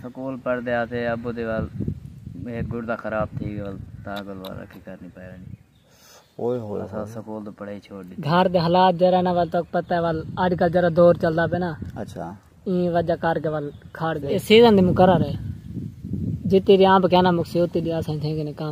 School پڑھدے ہاسے ابو دے ول ہک گڑدا خراب تھی گئے ول تاں گل ول رکھی کرنی پئے وینی اساں سکول توں پڑھائی چھوڑ ڈتی گھر دے حالات جرا نا ول تاک پتہ ول اج کل جرا دور چلدا پے نا اچھا این وجہ کر کے ول کھڑ گئے سیزن دی مقرر ہے جتی ریاں بکینا مکسی ہوتی دی اساں تھیں کہ کام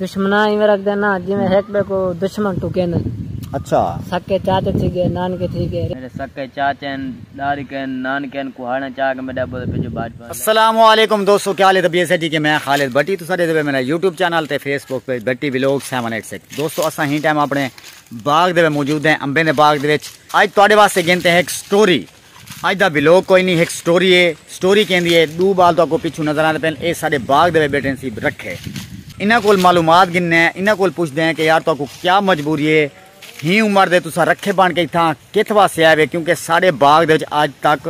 دشمناں ایویں رکھدے نا جیویں ہک ٻئے کوں دشمن ٹکین۔ اچھا۔ سکے چاچے تھی ڳئے نانکے تھی ڳئے۔ میݙے سکے چاچے ہن ݙاریکے ہن نانکے ہن کوہاڑیاں چا کے میݙے ابو دے بھیڄو بھاجپا دے۔ السلام علیکم دوستو کیا حال ہے طبیعت صحت ٹھیک ہے میں خالد بھٹی تساں ݙیکھدے پئے میݙا یوٹیوب چینل تے Facebook page Bhatti vlog seven eight six دوستو اساں ہی ٹائم اپݨے باغ دے وچ موجود ہیں امبیں دے باغ دے وچ اڄ تہاݙے واسطے گھن تے ہک سٹوری اج دا بلاگ کوئی نی ہک سٹوری اے سٹوری کیندی اے ڈو بال تہاکوں پچھوں نظر آندے پئن اے ساڈے باغ دے وچ بیٹھے ہن سی رکھے انہاں کول معلومات گھننے ہیں انہاں کول پچھدے ہیں کہ یار تہاکوں کیا مجبوری اے ہی عمر دے تساں رکھے بن کے اتھاں کتھ واسطے آئے وے کیونکہ ساڈے باغ دے وچ اج تک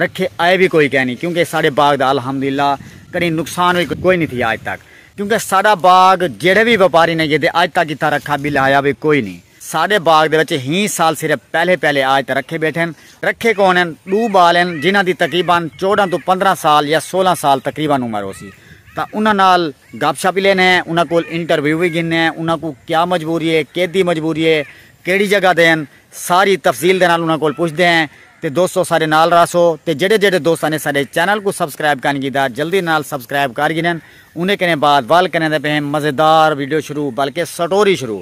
رکھے آئے وی کوئی کینی کیونکہ ساڈے باغ دا الحمدللہ کدی نقصان وی کوئی نی تھیا اج تک کیونکہ ساڈا باغ جیڑھے وی وپاری نے گھدے اج تک اتھاں رکھا بلہایا وی کوئی نی۔ ساݙے باغ دے وچ ہی سال صرف پہلے پہلے آج تاں رکھے ٻیٹھے ہن۔ رکھے کون ہن؟ ݙو ٻال ہن جنہاں دی تقریبا چوݙاں توں پندرھاں سال یا سولھاں سال تقریبا عمر ہوسی تاں انہاں نال گپ شپ وی لیندے ہیں انہاں کول انٹرویو وی گھندے ہیں انہاں کوں کیا مجبوری ہے کیندی مجبوری ہے کیڑھی جگہ دے ہن ساری تفصیل دے نال انہاں کول پچھدے ہیں تے دوستو ساݙے نال راہسو تے جیڑھے جیڑھے دوستاں نے ساݙے چینل کوں سبسکرائب کائنی کیتا جلدی نال سبسکرائب کر گھنن اونیں کنیں بعد ول کریں دے پئے ہیں مزیدار ویڈیو شروع بلکہ سٹوری شروع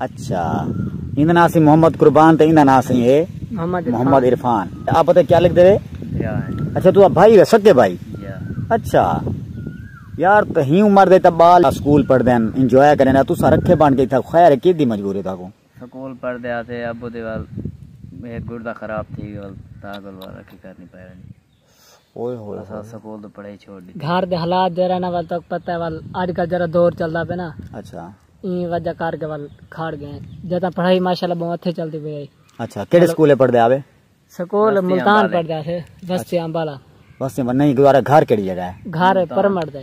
اچھا ایندا ناں سی محمد قربان تے ایندا ناں سی ہے محمد عرفان آپ پتہ کیا لکھ دے اچھا تو بھائی ہے سکے بھائی اچھا یار تہی عمر دے تا بال سکول پڑھ دین انجوائے کریں تو سا رکھے بان کے تھا خیر کی دی مجبوری تھا کو سکول پڑھ دے آتے ابو دے وال ایک گردہ خراب تھی گل تا گل وال رکھی کرنی پڑھ دے گھر دے حالات جیرھا نا ول تہاکوں پتہ ہے ول اج کل جیرھا دور چلدا پئے نا اچھا ایں وجہ کر کے ول کھڑ گئے جتا پڑھائی ماشاءاللہ بہوں اچھے چلدی پئی ہے اچھا کیڑے سکولے پڑھدے آوے سکول ملتان پڑھدا ہے بستی امبالا بستی امبالا نہیں گزارا گھر کیڑی جگہ ہے گھر پرمٹ دے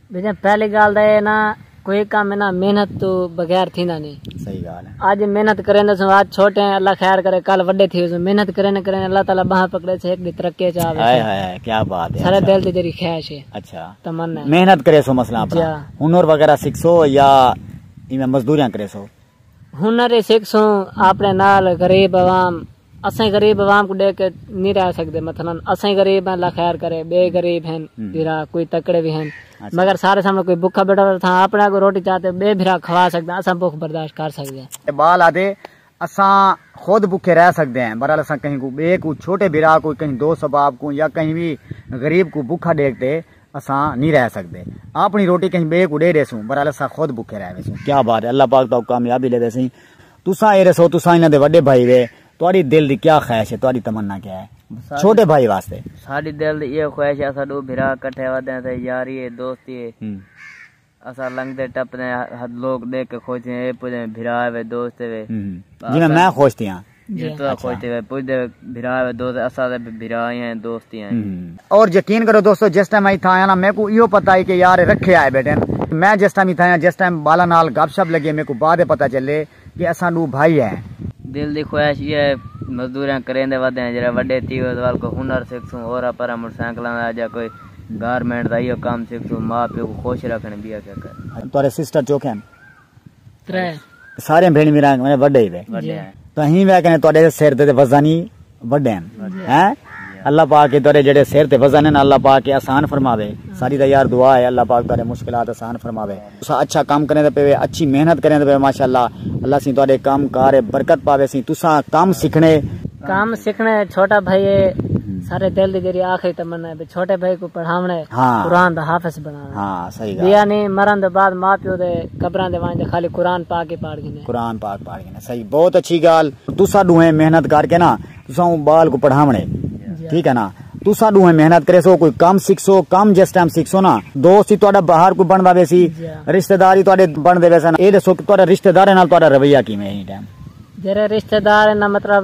بھیجاں پہلی گال دا اے نا کوئی کم انہاں محنت تو بغیر تھیندا نی صحیح گال ہے اج محنت کریندے سوں اج چھوٹے ہیں اللہ خیر کرے کل وڈے تھی ویسوں محنت کریندے کریندے اللہ تعالی باہاں پکڑے سے ایک دی ترقی اچ آوے ہائے ہائے ہائے کیا بات ہے سارے اچھا۔ دل دی جڑی خواہش ہے اچھا تمنا ہے محنت کرے سو مثلا اپنا جا۔ ہنر وغیرہ سکھ سو یا ایویں مزدوریاں کرے سو ہنر ہی سکھ سوں اپنے نال غریب عوام اساں غریب عوام کوں ڈیکھ کے نی رہ سگدے مثلا اساں غریب ہیں اللہ خیر کرے بے غریب ہیں بھرا کوئی تکڑے وی ہیں مگر سارے سامنے کوئی بکھا بیٹھا ہوے تھاں اپنے اگوں روٹی چا تے بے بھرا کھوا سگدے اساں بکھ برداشت کر سگدے ہیں۔ اقبال آدھے اساں خود بکھے رہ سگدے ہیں برحال اساں کہیں کوں بے کوں چھوٹے بھرا کوں کہیں دوست احباب کوں یا کہیں وی غریب کوں بکھا ڈیکھ تے اساں نی رہ سگدے اپنی روٹی کہیں بے کوں ڈے ڈیسوں برحال اساں خود بکھے رہ ویسوں کیا بات ہے اللہ پاک تہاکوں کامیابی ڈیوے سئیں۔ تساں اے رسو تساں انہاں دے وڈے بھائی وے تہاڈی دل دی کیا خواہش ہے تہاڈی تمنا کیا ہے چھوٹے بھائی واسطے ساڈی دل دی ایہو خواہش ہے اساں ڈو بھرا کٹھے ودے اساں یاری ہے دوستی ہے اساں لنگدے ٹپدے لوگ ڈیکھ کے خوش تھیندے اے پوجے بھرا ہے دوست ہے جیویں میں خوش تھیاں جیویں تساں خوش تھیوے پوجدے بھرا ہے دوست اساں دے بھرا ہی ہیں دوست ہی ہیں۔ اور یقین کرو دوستو جس ٹائم میں اتھاں آیا نا میکوں ایہو پتہ ہی کہ یار رکھے آئے بیٹھن میں جس ٹائم اتھاں آیا جس ٹائم بالاں نال گپ شپ لگے میکوں بعد ءچ پتہ چلے کہ اساں ڈو بھائی ہیں۔ دل دی خواہش ایہا ہے مزدوریاں کریندے ودے ہیں جیرھا وڈے تھی اس ول کوئی ہنر سکھسوں اورا پرا موٹر سائیکلاں دا جا کوئی گارمنٹ دا ایہو کم سکھسوں ماء پیو کوں خوش رکھن بیاں کیا کر۔ تہاڈے سسٹر چوکھے ہن۔ ترے سارے بھیڑ میرا میں وڈے ہی وے تو ہی وے کنے تواڈے سر تے وزن ہی وڈے ہیں ہیں اللہ پاک کے تواڈے جڑے سر تے وزن ہیں اللہ پاک کے آسان فرماوے ساری دا یار دعا ہے اللہ پاک تواڈے مشکلات آسان فرماوے تسا اچھا کام کرنے تے پے اچھی محنت کرنے تے پے ماشاءاللہ اللہ سی تواڈے کام کار برکت پاوے سی تسا کام سیکھنے کام سیکھنے چھوٹا بھائی سارے دل دی جڑی آخری تمنا ہے چھوٹے بھائی کو پڑھاونے ہاں۔ قرآن دا حافظ بنا بھیا نے مرن دے بعد ماء پیو دے قبراں دے ونج تے خالی قرآن پاک ہی پاڑ گھنے۔ قرآن پاک پاڑ گھنے صحیح بہت اچھی گال۔ تساں ڈوہیں محنت کر کے نا تساں اوں بال کو پڑھاونے ٹھیک ہے نا تساں ڈوہیں محنت کرے سو کوئی کم سکھ سو کم جس ٹائم سکھ سو نا دوست ہی تہاڈا باہر کوئی بندا وے سی رشتہ دار ہی تہاڈے بن دے وے سن اے دسو کہ تہاڈا رشتہ داراں نال تہاڈا رویہ کیویں ہے ایں ٹائم۔ جیرے رشتہ دار نا مطلب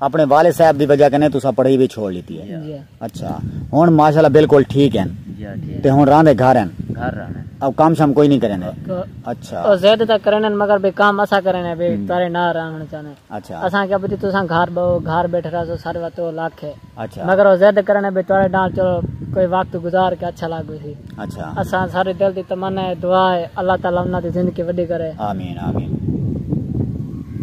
اپݨے والد صاحب دی وجہ کنیں تساں پڑھائی وی چھوڑ ݙتی ہے اچھا ہݨ ماشاءاللہ بالکل ٹھیک ہن تے ہݨ رہندے گھر ہن او کم شم کوئی نی کریندے اچھا او زید تاں کریندن مگر بے کم اساں کریندے بے تارے نہ رہݨ چاہندے اچھا اساں کیا پتی تساں گھر بہو گھر بیٹھے رہسو سارے وقت او لکھ ہے اچھا مگر او زید کریندے بے تارے نال چلو کوئی وقت گزار کے اچھا لگ گسی اچھا اساں سارے دل دی تمنا ہے دعا ہے اللہ تعالی انہاں دی زندگی وڈی کرے آمین آمین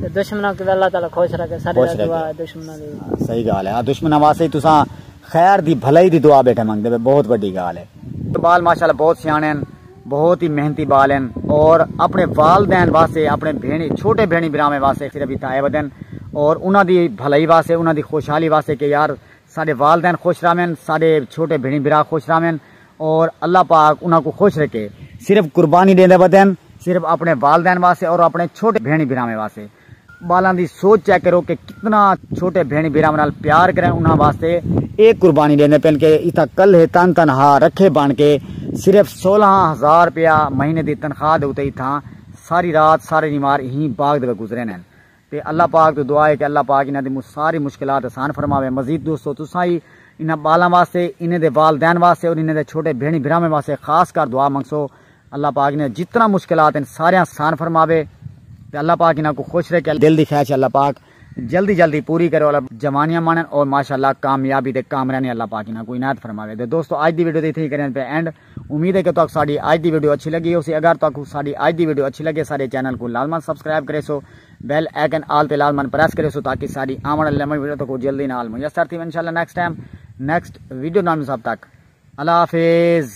تے دشمناں کو اللہ تعالی خوش رکھے سارے دی دعا ہے دشمناں دی صحیح گال ہے ہاں، دشمناں واسطے تساں خیر دی بھلائی دی دعا بیٹھے منگ دے بہت بڑی گال ہے بال ماشاءاللہ بہت سیانے ہیں بہت ہی محنتی بال ہیں اور اپنے والدین واسطے اپنے بھینی چھوٹے بھینی براویں واسطے صرف ہی تائے ودن اور انہاں دی بھلائی واسطے انہاں دی خوشحالی واسطے کہ یار ساڈے والدین خوش رہون، ساڈے چھوٹے بھیݨیں بھرا خوش رہون اور اللہ پاک انہاں کوں خوش رکھے۔ صرف قربانی ݙیندے ودن صرف اپݨے والدین واسطے اور اپݨے چھوٹے بھیݨیں بھراواں واسطے۔ ٻالاں دی سوچ چیک کرو کہ کتنا چھوٹے بھیݨیں بھراواں نال پیار کرن انہاں واسطے اے قربانی ݙیندے پن کہ اتھاں کل ہے تن تنہا رکھے بݨ کے صرف سولہاں ہزار روپیہ مہینے دی تنخواہ دے اتے اتھاں ساری رات سارے ݙینوار ایں باغ دے وچ گزریندے ہن۔ تے اللہ پاک توں دعا ہے کہ اللہ پاک انہاں دی ساری مشکلات آسان فرماوے مزید دوستو تساں وی انہاں بالاں واسطے انہیں دے والدین واسطے اور انہیں دے چھوٹے بھینڑیں بھراواں واسطے خاص کر دعا منگسو اللہ پاک انہاں جتنا مشکلات ہیں ساریاں آسان فرماوے تے اللہ پاک انہاں کو خوش رکھے دل دی خواہش اللہ پاک جلدی جلدی پوری کرے اور جوانیاں مانن اور ماشاءاللہ کامیابی تے کامرانی اللہ پاک انہاں کو عنایت فرماوے تے دوستو اج دی ویڈیو تے اتھے ہی کریں پہ اینڈ امید ہے کہ تہاکوں ساڈی اج دی ویڈیو اچھی لگی ہوسی اگر تہاکوں ساڈی اج دی ویڈیو اچھی لگے ساڈے چینل کوں لازمن سبسکرائب کریسو بیل آئیکن آل تے لازمن پریس کریسو تاکہ ساڈی آون والی لمبی ویڈیو تہاکوں جلدی نال میسر تھیون انشاءاللہ نیکسٹ ٹائم نیکسٹ ویڈیو نال مصاب تک اللہ حافظ